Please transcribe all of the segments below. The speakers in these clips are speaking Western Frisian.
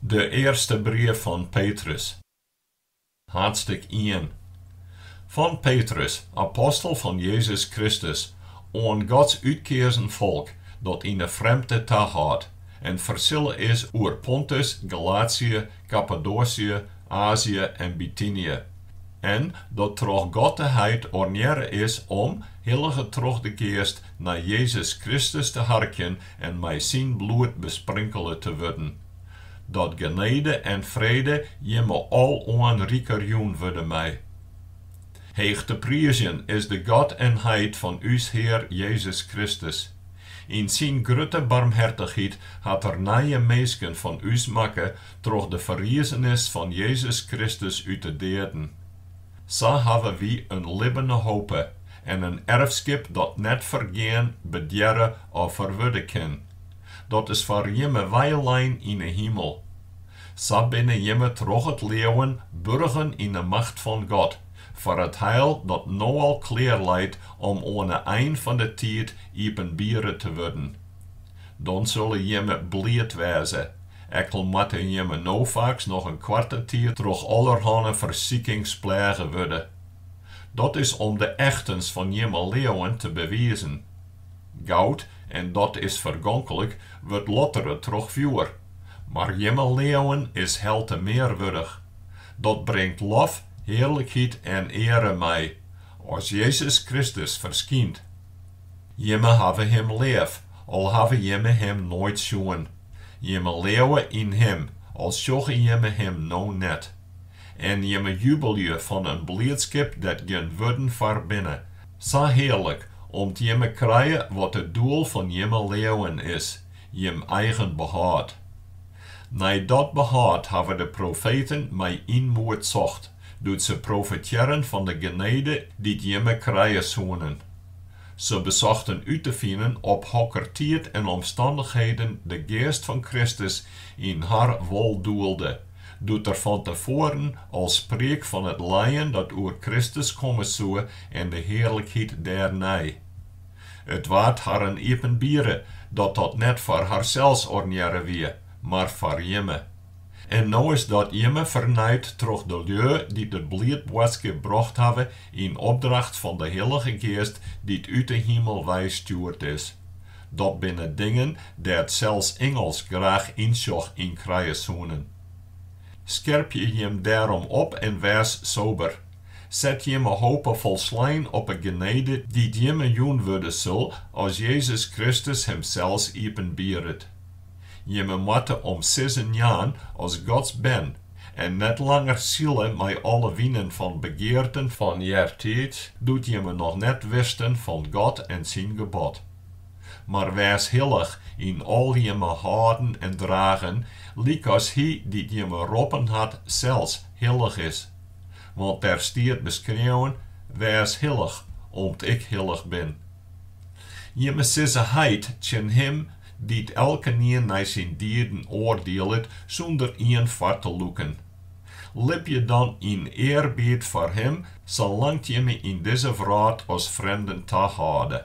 De earste brief fan Petrus. Hadstik ien. Fan Petrus, apostel fan Jezus Kristus, oan Gods útkeazen folk dat yn 'e frjemdte tahâldt en fersille is oer Pontus, Galatsje, Kappadoasje, Aazje en Bitynje, en dat troch God de Heit ornearre is om, hillige troch de Geast, nei Jezus Kristus te harkjen en mei syn bloed besprinkele te wurden, dat genede en frede jimme aloan riker jûn wurde mei. Heech te priizjen is de God en Heit fan ús Hear Jezus Kristus. Yn syn grutte barmhertichheid hat Er nije minsken fan ús makke troch de ferriezenis fan Jezus Kristus út de deaden. Sa hawwe wy in libbene hope en in erfskip dat net fergean, bedearre of ferwurde kin. Dat is foar jimme weilein yn 'e himel. Sa binne jimme troch it leauwen burgen yn 'e macht fan God, foar it heil dat no al klear leit om oan 'e ein fan 'e tiid iepenbiere te wurden. Dan sille jimme bliid wêze, ek al moatte jimme no faaks noch in koarte tiid troch allerhanne fersikings plêge wurde. Dat is om de echtens fan jimme leauwen te bewizen. Goud, en dat is fergonklik, wurdt lottere troch fjoer, mar jimme leauwen is helte mear wurdich. Dat bringt lof, hearlikheid en eare mei, as Jezus Kristus ferskynt. Jimme hawwe Him leaf, al hawwe jimme Him noait sjoen. Jimme leauwe yn Him, al sjogge jimme Him no net. En jimme jubelje fan in bliidskip dêr't gjin wurden foar binne, sa hearlik, om't jimme krije wat it doel fan jimme leauwen is, jim eigen behâld. Nei dat behâld hawwe de profeten mei ynmoed socht, doe't se profetearren fan de genede dy't jimme krije soenen. Se besochten út te finen op hokker tiid en omstannichheden de Geast fan Kristus yn har wol doelde, doe't Er fan te foaren al spriek fan it lijen dat oer Kristus komme soe en de hearlikheid dêrnei. It waard harren iepenbiere dat dat net foar harsels ornearre wie, mar foar jimme. En no is dat jimme fernijd troch de lju dy't it bliidboadskip brocht hawwe yn opdracht fan de Hillige Geast dy't út de himel wei stjoerd is. Dat binne dingen dêr't sels ingels graach ynsjoch yn krije soenen. Skerpje jim dêrom op en wês sober. Set jimme hope folslein op 'e genede dy't jimme jûn wurde sil as Jezus Kristus himsels iepenbieret. Jimme moatte om sizzen jaan as Gods bern, en net langer sile mei alle winen fan begearten fan eartiids, doe't jimme noch net wisten fan God en syn gebod. Mar wês hillich yn al jimme hâlden en dragen, lykas Hy dy't jimme roppen hat sels hillich is. Want der stiet beskreaun, Wês hillich, om't Ik hillich bin. Jimme sizze heit tsjin him, dy't elkenien nei syn dieden oardielet sûnder ien foar te lûken. Libje dan yn earbied foar him salang't jimme yn dizze wrâld as frjemden tahâlde.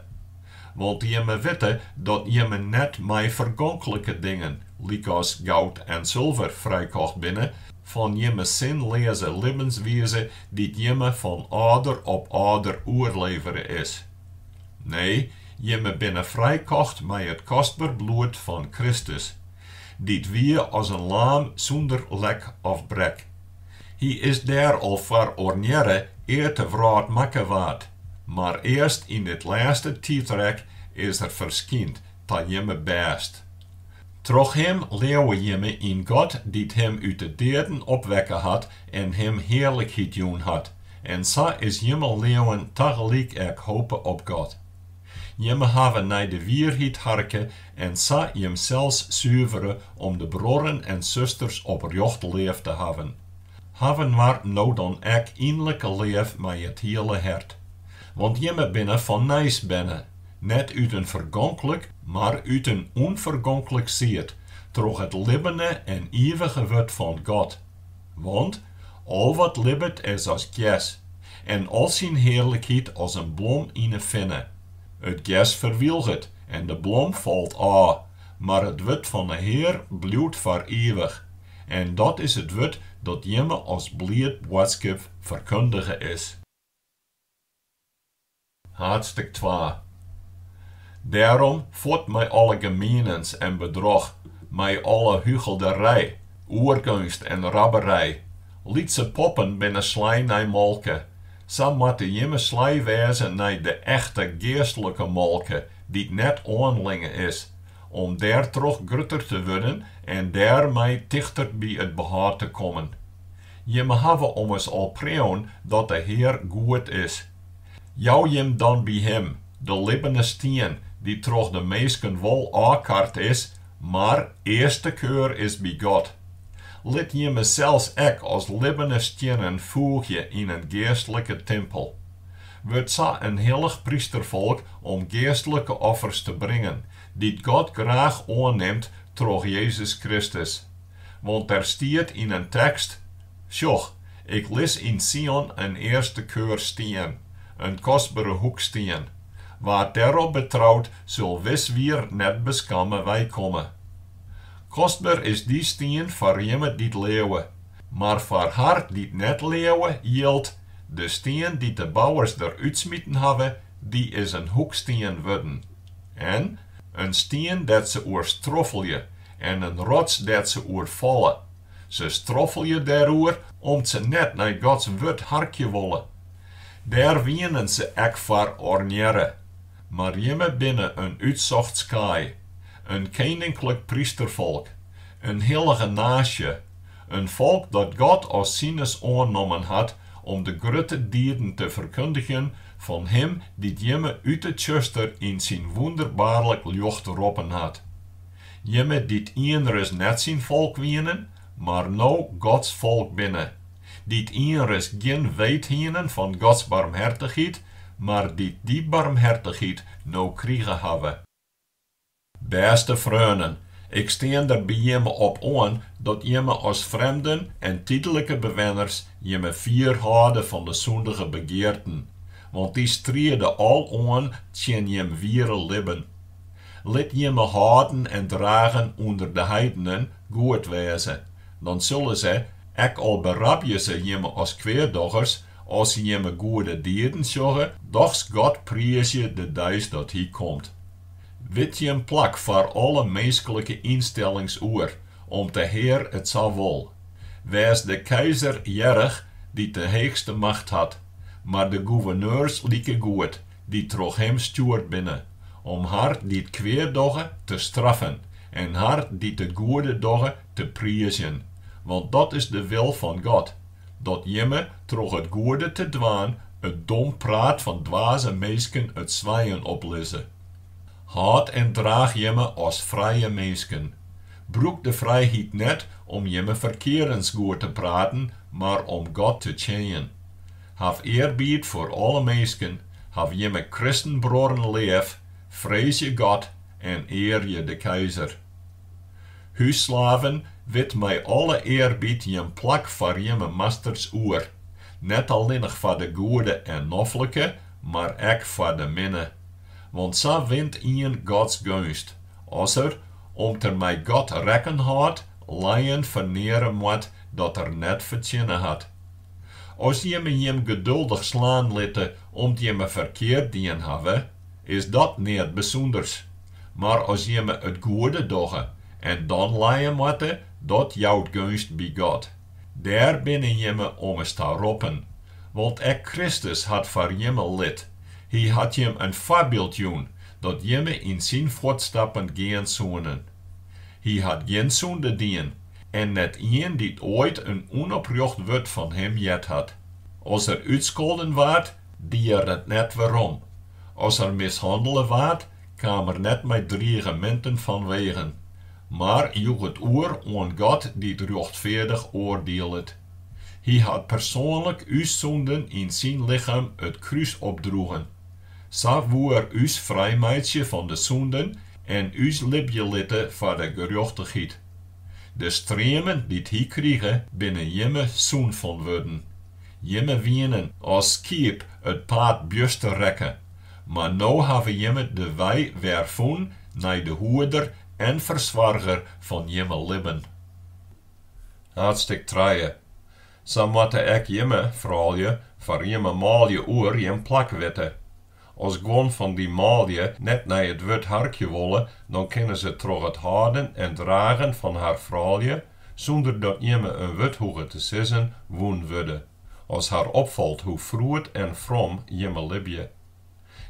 Want jimme witte dat jimme net mei fergonklike dingen, lykas goud en sulver, frijkocht binne, Fan jimme sinleaze libbenswize dy't jimme fan âlder op âlder oerlevere is. Nee, jimme binne frijkocht mei it kostber bloed fan Kristus, dy't wie as in laam sûnder lek of brek. Hy is dêr al foar ornearre ear't de wrâld makke waard, mar earst yn dit lêste tiidrek is er ferskynd ta jimme bêst. Troch Him leauwe jimme yn God dy't Him út de deaden opwekke hat en Him hearlikheid jûn hat, en sa is jimme leauwen tagelyk ek hope op God. Jimme hawwe nei de wierheid harke en sa jimsels suvere om de bruorren en susters oprjocht leaf te hawwen. Haw inoar no dan ek ynlike leaf mei it hiele hert. Want jimme binne fan nijs berne. net út in fergonklik, mar út in ûnfergonklik sied, troch it libbene en ivige Wurd fan God. Want al wat libbet is as gers, en al syn hearlikheid as in blom yn 'e finne. It gers ferwylget en de blom falt ôf, mar it Wurd fan 'e Hear bliuwt foar ivich. En dat is it Wurd dat jimme as bliid boadskip ferkundige is. Haadstik twa. Dêrom fuort mei alle gemienens en bedroch, mei alle hugelderij, oergeunst en rabberij. Lytse poppen binne slij nei molke, sa moatte jimme slij wêze nei de echte geastlike molke, dy't net oanlinge is, om dêrtroch grutter te wurden en dêrmei tichter by it behâld te kommen. Jimme hawwe ommers al preaun dat de Hear goed is. Jou jim dan by him, de libbene stien, dy't troch de minsken wol ôfkard is, mar earste keur is by God. Lit jimme sels ek as libbene stiennen foegje yn in geastlike timpel. Wurd sa in hillich prysterfolk om geastlike offers te bringen, dy't God graach oannimt troch Jezus Kristus. Want der stiet yn in tekst, Sjoch, ik lis yn Sion in earste keur stien, in kostbere hoekstien, wa't dêrop betrout sil wis wier net beskamme wei komme. Kostber is dy stien foar jimme dy't leauwe, mar foar har dy't net leauwe jildt, De stien dy't de bouwers der útsmiten hawwe, dy is in hoekstien wurden, en, in stien dêr't se oer stroffelje, En in rots dêr't se oer falle. Se stroffelje dêroer om't se net nei Gods wurd harkje wolle. Dêr wienen se ek foar ornearre. Mar jimme binne in útsocht skaai, in keninklik prysterfolk, in hillige naasje, in folk dat God as sines oannommen hat om de grutte dieden te ferkundigjen fan Him dy't jimme út 'e tsjuster yn syn wûnderbaarlik ljocht roppen hat. Jimme dy't ienris net syn folk wienen, mar no Gods folk binne, dy't ienris gjin weet hienen fan Gods barmhertichheid, mar dy't dy barmhertichheid no krige hawwe. Bêste freonen, ik stean der by jimme op oan dat jimme as frjemden en tydlike bewenners jimme fier hâlde fan de sûndige begearten, want dy striede al oan tsjin jim wiere libben. Lit jimme hâlden en dragen ûnder de heidenen goed wêze, dan sille se, ek al berabje se jimme as kweaddochers, as se jimme goede dieden sjogge, dochs God priizje de deis dat Hy komt. Wit jim plak foar alle minsklike ynstellings oer, om't de Hear it sa wol. Wês de keizer earrich, dy't de heechste macht hat, mar de goeverneurs likegoed, dy't troch him stjoerd binne, om har dy't kwead dogge te straffen en har dy't it goede dogge te priizjen, want dat is de wil fan God, dat jimme troch it goede te dwaan it dom praat fan dwaze minsken it swijen oplizze. Hâld en draach jimme as frije minsken. Brûk de frijheid net om jimme ferkeardens goed te praten, mar om God te tsjinjen. Haw earbied foar alle minsken, haw jimme kristenbruorren leaf, freezje God en earje de keizer. Hússlaven, wit mei alle earbied jim plak foar jimme masters oer, net allinnich foar de goede en noflike, mar ek foar de minne. Want sa wint ien Gods geunst, as er, om't er mei God rekken hâldt, lijen ferneare moat dat er net fertsjinne hat. As jimme jim geduldich slaan litte om't jimme ferkeard dien hawwe, is dat neat bysûnders. Mar as jimme it goede dogge en dan lije moatte, dat jout geunst by God. Dêr binne jimme ommers ta roppen. Want ek Kristus hat foar jimme lit. Hy hat jim in foarbyld jûn, dat jimme yn syn fuotstappen gean soenen. Hy hat gjin sûnde dien, en net ien dy't oait in ûnoprjocht wurd fan him heard hat. As er útskolden waard, die er it net werom. As er mishannele waard, kaam er net mei drigeminten fanwegen, mar joech it oer oan God dy't rjochtfeardich oardielet. Hy hat persoanlik ús sûnden yn syn lichem it krús opdroegen. Sa woe er ús frijmeitsje fan de sûnden en ús libje litte foar de gerjochtichheid. De streamen dy't hy krige binne jimme sûn fan wurden. Jimme wienen as skiep it paad bjuster rekke, mar no hawwe jimme de wei wer fûn nei de Hoeder en Fersoarger fan jimme libben. Haadstik trije. Sa moatte ek jimme froulju foar jimme manlju oer jim plak witte. As guon fan dy manlju net nei it wurd harkje wolle, dan kinne se troch it hâlden en dragen fan har froulju, sûnder dat jimme in wurd hoege te sizzen, wûn wurde. As har opfalt hoe froed en from jimme libje.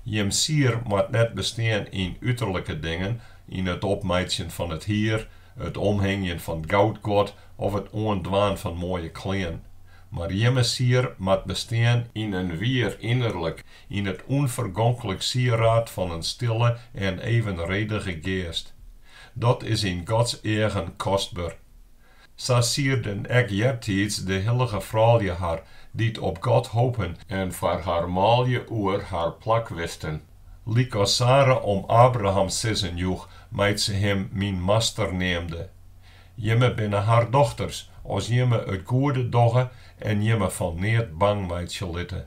Jim sier moat net bestean yn uterlike dingen, yn it opmeitsjen fan it hier, it omhingjen fan goudguod of it oandwaan fan moaie klean. Mar jimme sier moat bestean yn in wier ynnerlik, yn it ûnfergonklik sieraad fan in stille en evenredige geast. Dat is yn Gods eagen kostber. Sa sierden ek eartiids de hillige froulju har, dy't op God hopen en foar har manlju oer har plak wisten. Lykas Sara om Abraham sizzen joech, mei't se him myn master neamde. Jimme binne har dochters, as jimme it goede dogge en jimme fan neat bang meitsje litte.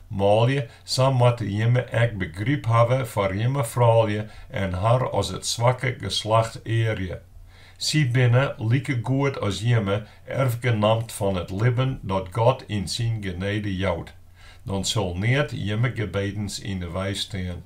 Manlju, sa moatte jimme ek begryp hawwe foar jimme froulju en har as it swakke geslacht earje. Sy binne, likegoed as jimme, erfgenamt fan it libben dat God yn syn genede jout. Dan sil neat jimme gebedens yn 'e wei stean.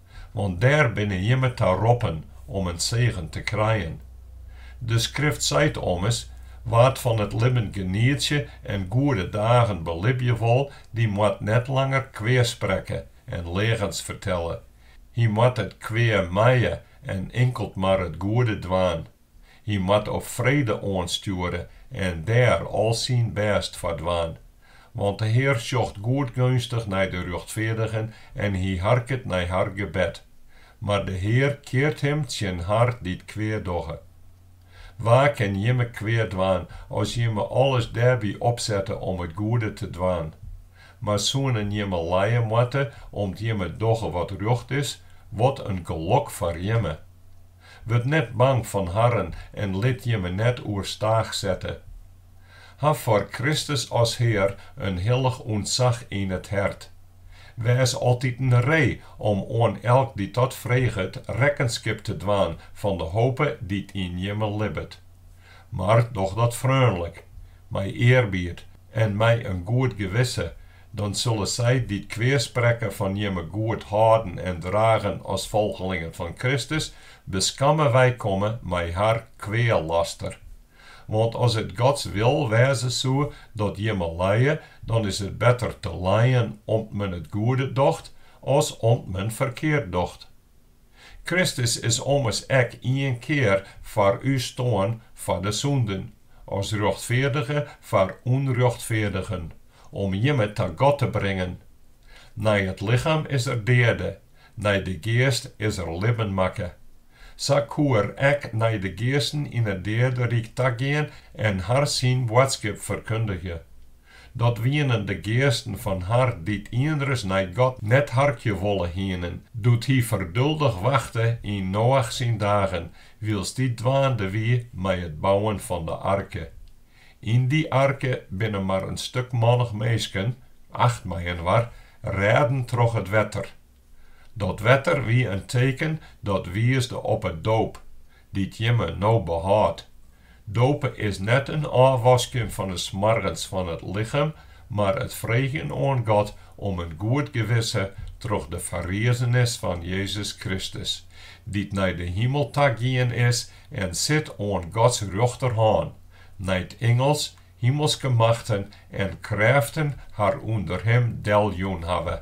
Want dêr binne jimme ta roppen om in segen te krijen. De Skrift seit ommers, Wa't fan it libben genietsje en goede dagen belibje wol, dy moat net langer kwea sprekke en leagens fertelle. Hy moat it kwea mije en inkeld mar it goede dwaan. Hy moat op frede oanstjoere en dêr al syn bêst foar dwaan. Want de Hear sjocht goedgeunstich nei de rjochtfeardigen en hy harket nei har gebed. Mar de Hear keart him tsjin har dy't kwea dogge. Wa kin jimme kwea dwaan as jimme alles dêrby opsette om it goede te dwaan? Mar soenen jimme lije moatte om't jimme dogge wat rjocht is, wat in gelok foar jimme! Wurd net bang fan harren en lit jimme net oerstaach sette. Haw foar Kristus as Hear in hillich ûntsach yn it hert. Wês altiten ree om oan elk dy't dat freget rekkenskip te dwaan fan de hope dy't yn jimme libbet. Mar doch dat freonlik, mei earbied en mei in goed gewisse, Dan sille sy dy't kweasprekke fan jimme goed hâlden en dragen as folgelingen fan Kristus, beskamme weikomme mei har kwealaster. Want as it Gods wil wêze soe dat jimme lije, dan is it better te lijen om't men it goede docht, as om't men ferkeard docht. Kristus is ommers ek ien kear foar ús stoarn foar de sûnden, as rjochtfeardige foar ûnrjochtfeardigen, om jimme ta God te bringen. Nei it lichem is er deade, nei de geast is er libben makke. Sa koe er ek nei de geasten yn it deaderyk tagean en har syn boadskip ferkundigje. Dat wienen de geasten fan har dy't ienris nei God net harkje wolle hienen, doe't Hy ferduldich wachte yn Noach syn dagen, wylst dy dwaande wie mei it bouwen fan de arke. Yn dy arke binne mar in stikmannich minsken, acht mei-inoar, rêden troch it wetter. Dat wetter wie in teken dat wiisde op 'e doop, dy't jimme no behâldt. Dope is net in ôfwasken fan 'e smoargens fan it lichem, mar it freegjen oan God om in goed gewisse troch de ferriezenis fan Jezus Kristus, dy't nei de himel ta gien is en sit oan Gods rjochterhân, nei't ingels, himelske machten en krêften har ûnder him deljûn hawwe.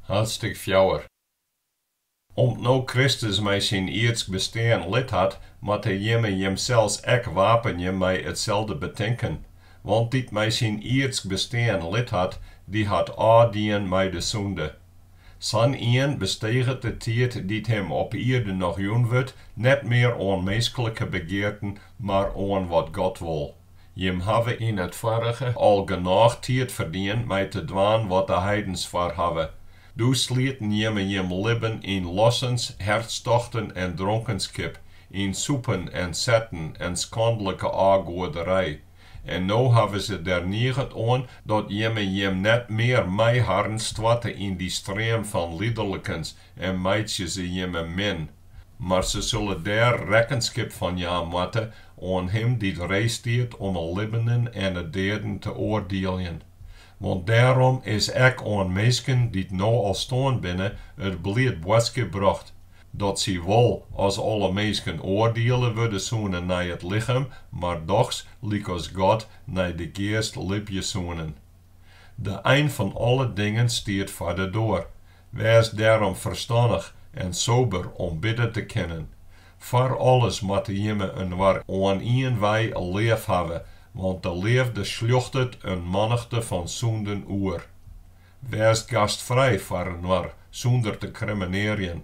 Haadstik fjouwer. Om't no Kristus mei syn ierdsk bestean lit hat, moatte jimme jimsels ek wapenje mei itselde betinken. Want dy't mei syn ierdsk bestean lit hat, dy hat ôfdien mei de sûnde. Sa'n ien besteget de tiid dy't him op ierde noch jûn wurdt, net mear oan minsklike begearten, mar oan wat God wol. Jim hawwe yn it foarige al genôch tiid ferdien mei te dwaan wat de heidens foar hawwe. Doe slieten jimme jim libben yn lossens, hertstochten en dronkenskip, yn sûpen en setten en skandlike ôfgoaderij. En no hawwe se der niget oan dat jimme jim net mear mei harren stoarte yn dy stream fan liederlikens en meitsje se jimme min. Mar se sille dêr rekkenskip fan jaan moatte oan Him dy't ree stiet om 'e libbenen en 'e deaden te oardieljen. Want dêrom is ek oan minsken dy't no al stoarn binne it bliid boadskip brocht, dat sy wol as alle minsken oardiele wurde soene nei it lichem, mar dochs lykas God nei de geast libje soenen. De ein fan alle dingen stiet foar de doar, Wês dêrom ferstannich en sober om bidden te kinnen. Foar alles moatte jimme inoar oan ien wei leafhawwe, want de leafde sljochtet in mannichte fan sûnden oer. Wês gastfrij foar inoar sûnder te krimmenearjen.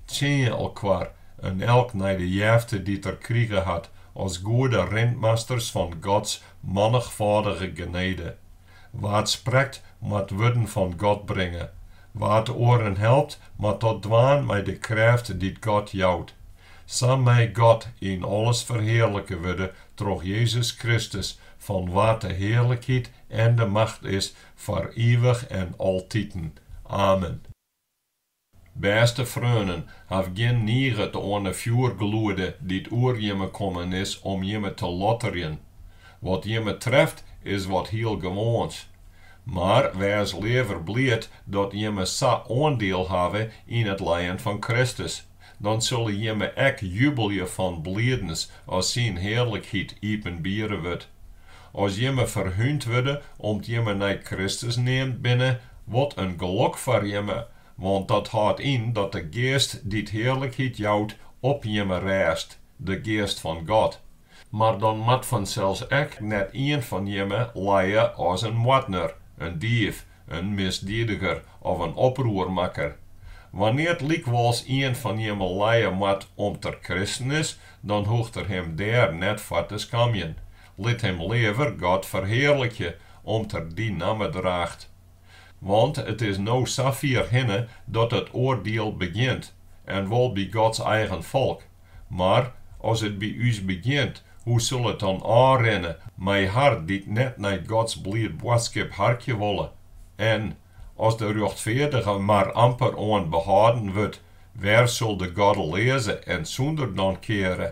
Tsjinje elkoar, in elk nei de jefte dy't er krige hat, as goede rintmasters fan Gods mannigfâldige genede. Wa't sprekt, moat wurden fan God bringe. Wa't oaren helpt, moat dat dwaan mei de krêft dy't God jout. Sa mei God yn alles ferhearlike wurde troch Jezus Kristus, fan wa't de hearlikheid en de macht is foar ivich en altiten. Amen. Bêste freonen, haw gjin niget oan 'e fjoergloede dy't oer jimme kommen is om jimme te lotterjen. Wat jimme treft is wat hiel gewoans. Mar wês leaver bliid dat jimme sa oandiel hawwe yn it lijen fan Kristus, Dan sille jimme ek jubelje fan blidens as syn hearlikheid iepenbiere wurdt. As jimme ferhûnd wurde om't jimme nei Kristus neamd binne, wat in gelok foar jimme, want dat hâldt yn dat de Geast dy't hearlikheid jout op jimme rêst, de Geast fan God. Mar dan moat fansels ek net ien fan jimme lije as in moardner, in dief, in misdiediger of in oproermakker. Wannear't lykwols ien fan jimme lije moat om't er kristen is, dan hoecht er him dêr net foar te skamjen. Lit him leaver God ferhearlikje om't er dy namme draacht. Want it is no safier hinne dat it oardiel begjint, en wol by Gods eigen folk. Mar as it by ús begjint, hoe sil it dan ôfrinne mei har dy't net nei Gods bliid boadskip harkje wolle? En as de rjochtfeardige mar amper oan behâlden wurdt, wêr sil de goddeleaze en sûnder dan keare?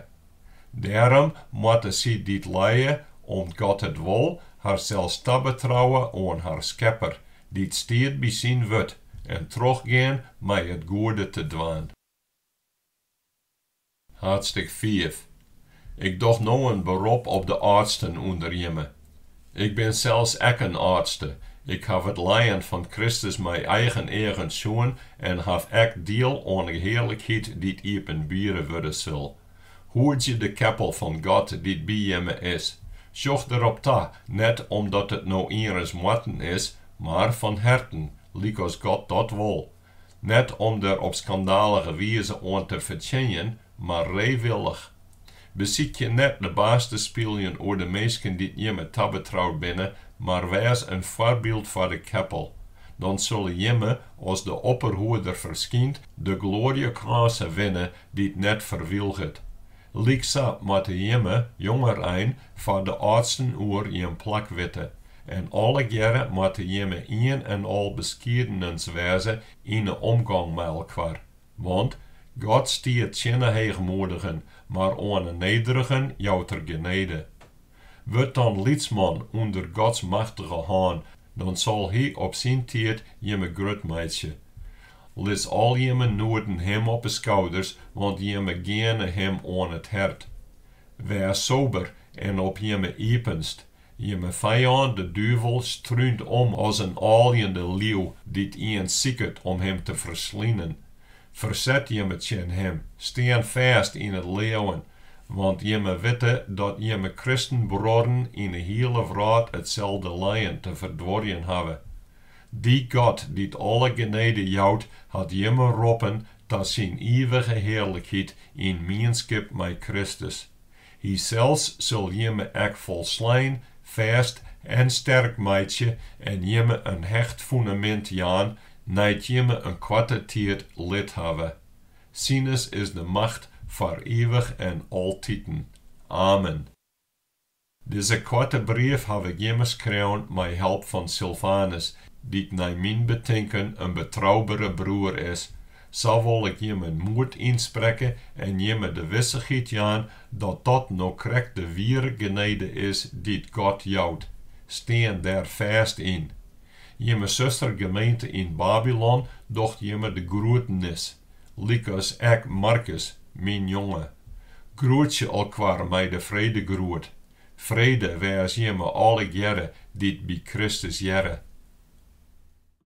Dêrom moatte sy dy't lije, om't God it wol, harsels tabetrouwe oan har Skepper, dy't stiet by syn wurd, en trochgean mei it goede te dwaan. Haadstik fiif. Ik doch no in berop op de âldsten ûnder jimme. Ik bin sels ek in âldste, ik haw it lijen fan Kristus mei eigen eagen sjoen en haw ek diel oan 'e hearlikheid dy't iepenbiere wurde sil. Hoedzje de keppel fan God dy't by jimme is. Sjoch derop ta, net omdat it no ienris moatten is, mar fan herten, lykas God dat wol. Net om der op skandalige wize oan te fertsjinjen, mar reewillich. Besykje net de baas te spyljen oer de minsken dy't jimme tabetroud binne, mar wês in foarbyld foar de keppel. Dan sille jimme, as de opperhoeder ferskynt, de gloarjekrânse winne dy't net ferwilget. Lyksa moatte jimme, jongerein, foar de âldsten oer jim plak witte, En allegearre moatte jimme ien en al beskiedenens wêze yn 'e omgong mei elkoar. Want, God stiet tsjin 'e heechmoedigen, mar oan 'e nederigen jout Er genede. Wurd dan lytsman ûnder Gods machtige hân, dan sil Hy op syn tiid jimme grut meitsje. Lis al jimme noeden Him op 'e skouders, want jimme geane Him oan it hert. Wês sober en op jimme iepenst, Jimme fijân de duvel strúnt om as in âljende liuw dy't ien siket om him te ferslinen. Ferset jimme tsjin him, stean fêst yn it leauwen, want jimme witte dat jimme kristenbruorren yn 'e hiele wrâld itselde lijen te ferduorjen hawwe. Dy God dy't alle genede jout, hat jimme roppen ta syn ivige hearlikheid yn mienskip mei Kristus. Hysels sil jimme ek folslein, fêst en sterk meitsje en jimme in hecht fundamint jaan nei't jimme in koarte tiid litten hawwe. Sines is de macht foar ivich en altiten. Amen. Dizze koarte brief haw ik jimme skreaun mei help fan Silvanus, dy't nei myn betinken in betroubere broer is, Sa wol ik jimme moed ynsprekke en jimme de wissichheid jaan dat dat no krekt de wiere genede is dy't God jout. Stean dêr fêst yn. Jimme sustergemeente yn Babylon docht jimme de groetenis, lykas ek Markus, myn jonge. Groetsje elkoar mei de fredegroet. Frede wês jimme allegearre dy't by Kristus hearre.